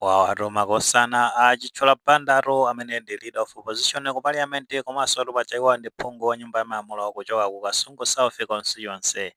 wawatu makosana a Chithyola Bandatu amene ndi leader of opposition ku parliament komansotu paja iwo ndi phungu wa nyumba ya malamulo kuchoka ku kasungu south constituency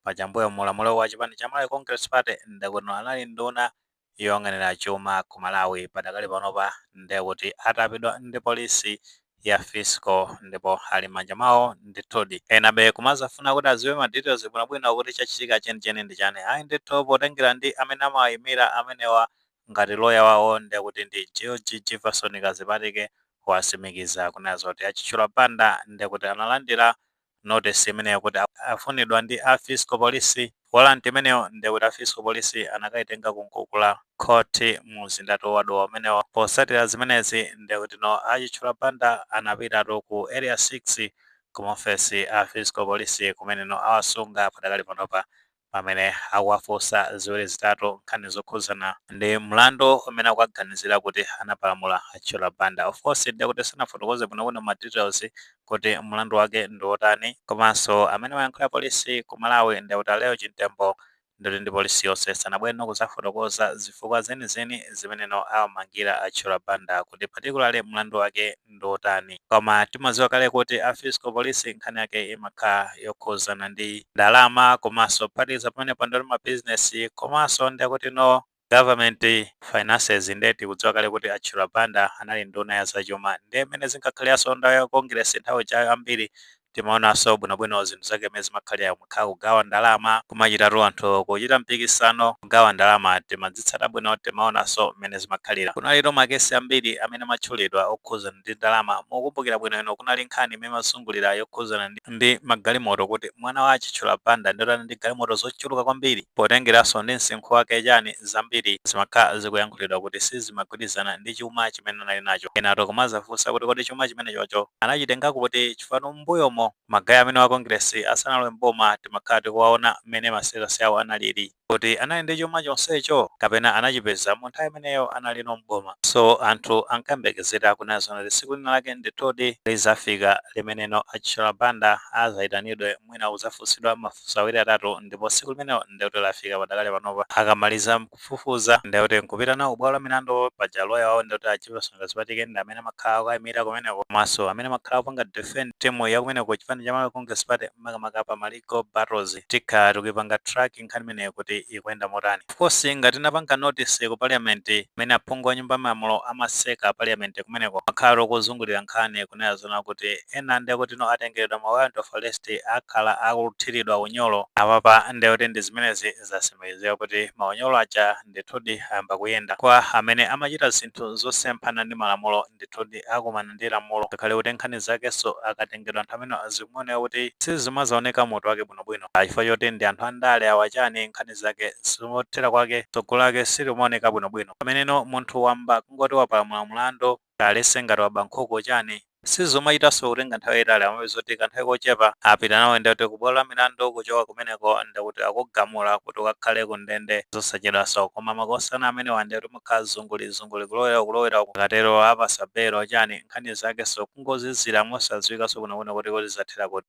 paja mbuyo mu ulamuliro wa chipani cha malawi congress party ndekuti no anali nduna yoyang'anira chuma ku malawi padakali panopa ndekuti atapidwa ndi polisi ya fiscal ndipo ali m'manja mwawo ndithudi. Enabe kumazafuna kuti aziwe ma details bwinobwino kuti chachitika chenicheni ndi chani ayi ndithu potengera ndi amene amawayimira amenewa ngati lawyer wawo ndekuti ndi George Jivason Kadzipatike wasimikiza kunena zoti a Chithyola Banda ndekuti analandira notice imeneyo kuti afunidwa ndi a fiscal police warrant imeneyo nde kuti a fiscal police anakaitenga ku nkukula court mu mzindatu wa Dowa umenewo posatira zimenezi nde kuti no a Chithyola Banda anapitatu ku area 6 ku maofesi a fiscal police kumene no awasunga padakali panopa pamene akuwafunsa ziwiri zitatu nkhani zokhudzana ndi mlandu umene akuwaganizira kuti anapalamula a Chithyola Banda. Of course ndiye kuti sanafotokoze bwinobwino ma details kuti mlandu wake ndi wotani komanso amene amayankhulira polisi ku Malawi ndekuti a Lael Chimtembo ndikuti ndi polisi yonse sanabwereno kudzafotokoza zifukwa zenizeni zimene no awamangira a Chithyola Banda kuti particularly mlandu wake ndi otani. Koma timadziwa kale kuti a Fiscal Police nkhani yake imakhala yokhudzana ndi ndalama komanso kuphatikiza pamenepo ndi ma business komanso ndekuti no Government finances nde tikudziwa kale kuti a Chithyola Banda anali nduna ya zachuma nde mmene zinkakhaliranso nthawi ya Congress nthawi ijayo ambiri Timaonanso bwinobwino zinthu zake mmene zimakhalira kumakhala kugawa ndalama kumachitatu anthu kuchita mpikisano kugawa ndalama timadzitsata bwino timaonanso mmene zimakhalira kunalitu makesi ambiri amene amatchulidwa okhuzana ndi ndalama mukukumbukira bwino inu kunali nkhani imene imazungulira yokhuzana ndi magalimoto kuti mwana wa a Chithyola Banda ndiye kuti ali ndi galimoto zochuluka kwambiri potengeranso ndi msinkhu wake chani zambiri zimakhala zikuyankhulidwa kuti sizima mogwirizana ndi chuma chimene anali nacho. Enatu kumazafunsa kuti kodi chuma chimenechocho anachitenga kuti? Chifukwa mmbuyomo magaye amenewa a Kongiresi asanalowe m'boma timakhala tikuwaona mmene ma status awo analili. Kuti anali ndi chuma chonsecho? Kapena anachipeza mu nthawi imeneyo analino m'boma? So anthu ankayembekezera kunena zoona kuti tsiku lina lake ndithudi lidzafika limeneno a Chithyola Banda adzaitanidwe mwina kudzafunsidwa mafunso awiri atatu ndipo tsiku limenelo ndekuti lafika padakali panopa. Akamaliza. kufufuza ndi kuti nkupita nawo kubwalo la milandu paja lawyer wawo ndi kuti a Jivason Kadzipatike ndi amene amakhala akuwaimira kumeneko komanso amene amakhala akupanga defend team ya kumeneko ku chipani cha Malawi Congress Party makamaka pa ma legal battles. Tikhala tikuipanga track nkhani imeneyo kuti ikuyenda motani. Of course ngati tinapanga notice ku parliament mmene aphungu a nyumba ya malamulo amaseka parliament kumeneko imakhalatu ikuzungulira nkhani kunena zoona kuti ena ndekuti no atengeredwa ma warrant of arrest akhala akuthiridwa unyolo apapa ndi kuti ndi zimenezi zatsimikizika kuti maunyolo aja ndithudi ayamba kuyenda. Kwa amene amachita zinthu zosemphana ndi malamulo ndithudi akumana ndi lamulo ngakhale kuti nkhani zakenso akatengedwa anthu amenewa zikumaoneka kuti sizimazaoneka mutu wake bwinobwino. Kaya chifukwa choti ndi anthu andale awa chani nkhani zake zimathera kwake tsogolo lake silimaoneka bwinobwino. Pameneno munthu wamba kungoti wapalamula mlandu. alese ngati waba nkhuku chani sizumachitaso kutenga nthawi yayitali umapeza kuti kanthawi kochepa apita nawe nde kuti kubwalo lamilandu kuchoka kumeneko nde kuti akugamula kuti ukakhale ku ndende zosachedwaso koma makosana amenewa nde kuti kumakhala zunguli zunguli kulowera uku kulowera uku akatero apasa belo chani nkhani zakeso kungozizira mosaziwikaso bwino bwino kuti kodi zathera kuti.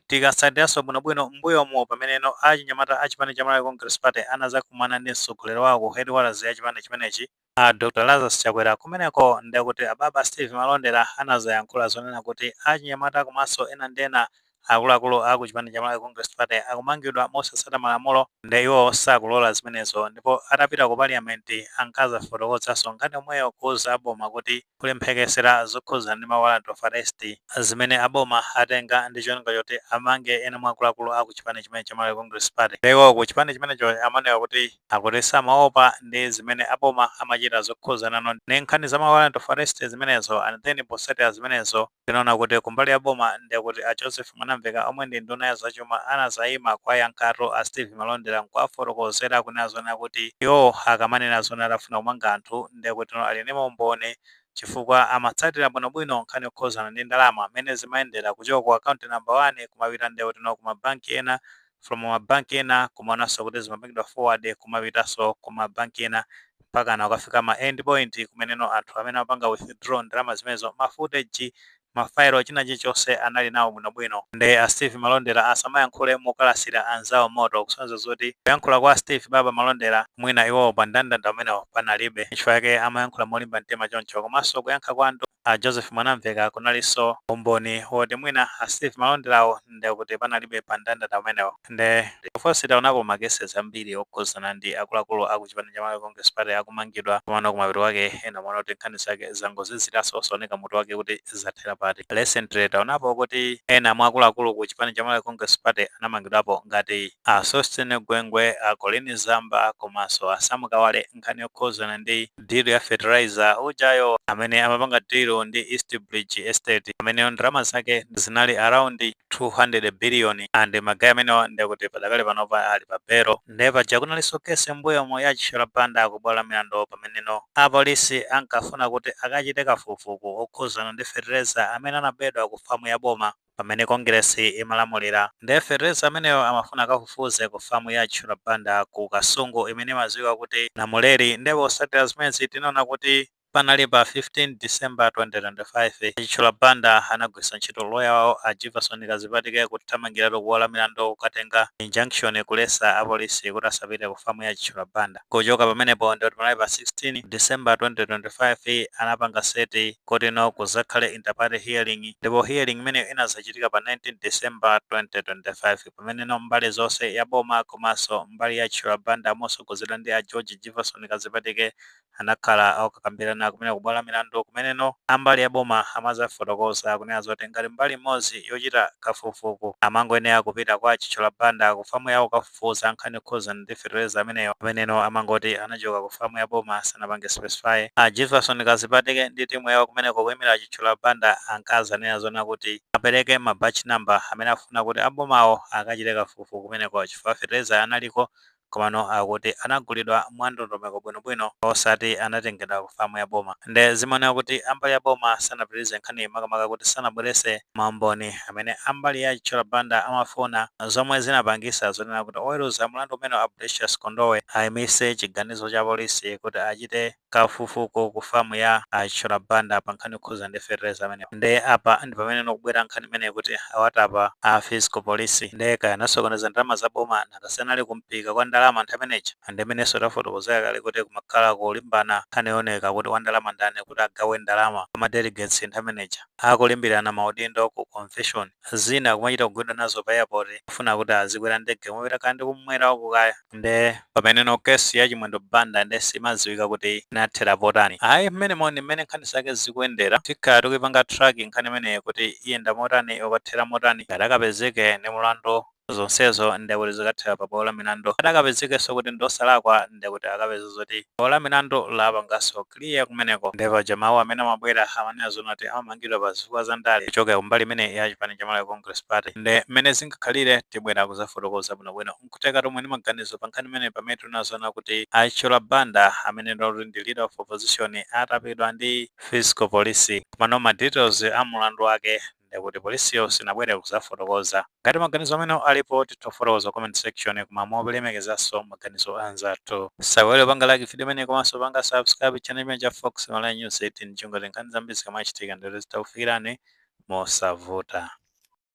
Tikasatiranso bwinobwino m'mbuyomu pameneno achinyamata a chipani cha Malawi Congress Party anadzakumana ndi mtsogoleri wawo ku headquarters ya chipani chimenechi a Dr Lazarus Chakwera, kumeneko ndekuti Ababa Steve Malondera anadzayankhula zonena kuti achinyamata komanso ena ndi ena akuluakulu a ku chipani cha Malawi Congress Party akumangidwa mosatsata malamulo nde iwo sakulola zimenezo ndipo atapita ku parliament anakadzafotokozanso nkhani yomweyo kuuza aboma kuti Kuli mphekesera zokhudzana ndi ma warrant of arrest zimene a boma atenga ndi cholinga choti amange ena mwa akuluakulu a ku chipani chimenechi cha Malawi Congress Party. Nde iwowo ku chipani chimenecho amanena kuti akuti samaopa ndi zimene a boma amachita zokhudzanano ndi nkhani za ma warrant of arrest zimenezo and then potsatira zimenezo, Tinaona kuti kumbali ya boma nde kuti a Joseph Mwanamveka omwe ndi nduna ya zachuma anazayima kuwayankhatu a Steve Malondera nkuwafotokozera kunena zoona kuti iwowo akamanena zoona kuti afuna kumanga anthu nde kutino ali ndi maumboni chifukwa amatsatira bwinobwino nkhani yokhuzana ndi ndalama mmene zimayendera kuchoka ku account number 1 kumapita nde kutino ku ma bank ena from ma bank ena kumaonanso kuti zimapangidwa forward kumapitanso ku ma bank ena mpakana kukafika ma end point kumeneno anthu amene amapanga withdraw ndalama zimenezo ma footage ma file china chilichonse anali nawo bwinobwino nde a steve malondera asamayankhule mokalasira anzawo moto kusonyeza zoti kuyankhula kwa steve baba malondera mwina iwowo pa ndandanda umenewo panalibe chifukwa chake amayankhula molimba mtima choncho komanso kuyankha kwa a Joseph Mwanamveka kunalinso umboni woti mwina a Steve Malonderawo nde kuti panalibe pa ndandanda umenewo. Nde of course taonapo ma cases ambiri okhuzana ndi akuluakulu a ku chipani cha Malawi Congress Party akumangidwa komano kumapeto kwake ena umaona kuti nkhani zake zangoziziranso osaoneka mutu wake kuti zathera pati. Recently taonapo kuti ena mwa akuluakulu ku chipani cha Malawi Congress Party anamangidwapo ngati a Sosten Gwengwe, a Colleen Zamba komanso a Sam Kawale nkhani yokhuzana ndi. deal ya fertilizer ujayo amene anapanga deal ndi East Bridge Estate ameneyo ndalama zake zinali around 200 billion and magaya amenewa ndekuti padakali panopa ali pa bero nde paja kunalinso kesi mbuyomo ya Chithyola Banda kubwalo la milandu pameneno apolisi ankafuna kuti akachite kafukufuku wokhuzana ndi fertilizer amene anabedwa ku famu ya boma pamene kongilesi imalamulira nde fetereza ameneyo amafuna akafufuze ku farm ya Chithyola Banda ku Kasungu imene imaziwika kuti Namuleri nde posatira zimenezi tinaona kuti panali pa 15 December 2025 a Chithyola Banda anagwirisa ntchito lawyer wawo a Jivason Kadzipatike kuthamangiratu ku bwalo la milandu kukatenga injunction kulesa apolisi kuti asapite ku farm ya Chithyola Banda. Kuchoka pamenepo ndikuti panali pa 16 December 2025 anapanga set kuti no kuzakhale interparty hearing ndipo hearing imeneyo inazachitika pa 19 December 2025 pameneno mbali zonse ya boma komanso mbali ya Chithyola Banda mosogozedwa ndi a George Jivason Kadzipatike anakhala akukakambilana kumene kubwalo la milandu kumeneno ambali ya boma amazafotokoza kunena zoti ngati mbali imodzi yochita kafukufuku amangoyenera kupita kwa a Chithyola Banda ku famu yawo kufufuza nkhani yokhuzana ndi fetereza ameneyo ameneno amangoti anachoka ku farm ya boma sanapange specify. A Jivason Kadzipatike ndi timu yawo kumeneko kuimira a Chithyola Banda ankazanena zoona kuti apereke ma batch number amene afuna kuti a bomawo akachite kafukufuku kumeneko chifukwa fetereza analiko komano akuti anagulidwa mwa ndondomeko bwinobwino osati anatengedwa ku farm ya boma nde zimaoneka kuti ambali ya boma sanapitirize nkhaniyi makamaka kuti sanabwerese maumboni amene a mbali ya Chithyola Banda amafuna, zomwe zinapangisa zonena kuti oweruza mlandu umenewu a Precious Kondowe ayimitse chiganizo cha polisi kuti achite kafukufuku ku farm ya a Chithyola Banda pa nkhani yokhudzana ndi fetereza ameneyu. Nde apa ndipameneno ikubwera nkhani imeneyi kuti awatapa a Fiscal Police. Nde kaya anasokoneza ndalama za boma, nanga si anali ku mphika kwa ndalama nthawi imene ija? Ndi mmenenso tafotokozera kale kuti kumakhala kulimbana nkhani yooneka kuti wandalama ndani kuti agawe ndalama kwa ma delegates nthawi imene ija. akulimbirana maudindo ku convention, zina kumachita kugwidwa nazo pa airport kufuna kuti azikwera ndege kumapita kaya ndi kummwera uku kaya nde pameneno case ya Chimwendo Banda nde simadziwika kuti inathera potani ayi, mmenemo ndi mmene nkhani zake zikuyendera tikhala tikuipanga track nkhani imeneyi kuti iyenda motani, ikathera motani, ngati akapezeke ndi mlandu zonsezo ndekuti zikathera pa bwalo la milandu ngati akapezekenso kuti ndiosalakwa ndekuti akapeza zoti bwalo la milandu lapanganso clear kumeneko nde paja mawu amene amabwera amanena zoona kuti amamangidwa pa zifukwa za ndale kuchokera kumbali imene ya chipani cha Malawi Congress Party nde mmene zingakhalire tibwera kuzafotokoza bwinobwino nkutheka tomwe ndi maganizo pa nkhani imene pamene tinena zoona kuti a Chithyola Banda amene lero ndi leader of opposition atapidwa ndi fiscal police komano ma details a mulandu wake ndekuti polisiyo sinabwere kuzafotokoza. Ngati maganizo amenewo alipo titha kufotokoza ku comment section koma molemekezaso maganizo a anzathu. Usaiwale kupanga like video imeneyi komaso panga subscribe channel chimene cha Fox Malawi News 18 chingoti nkhani zambiri zikamachitika ndekuti zitha kufikirani mosavuta.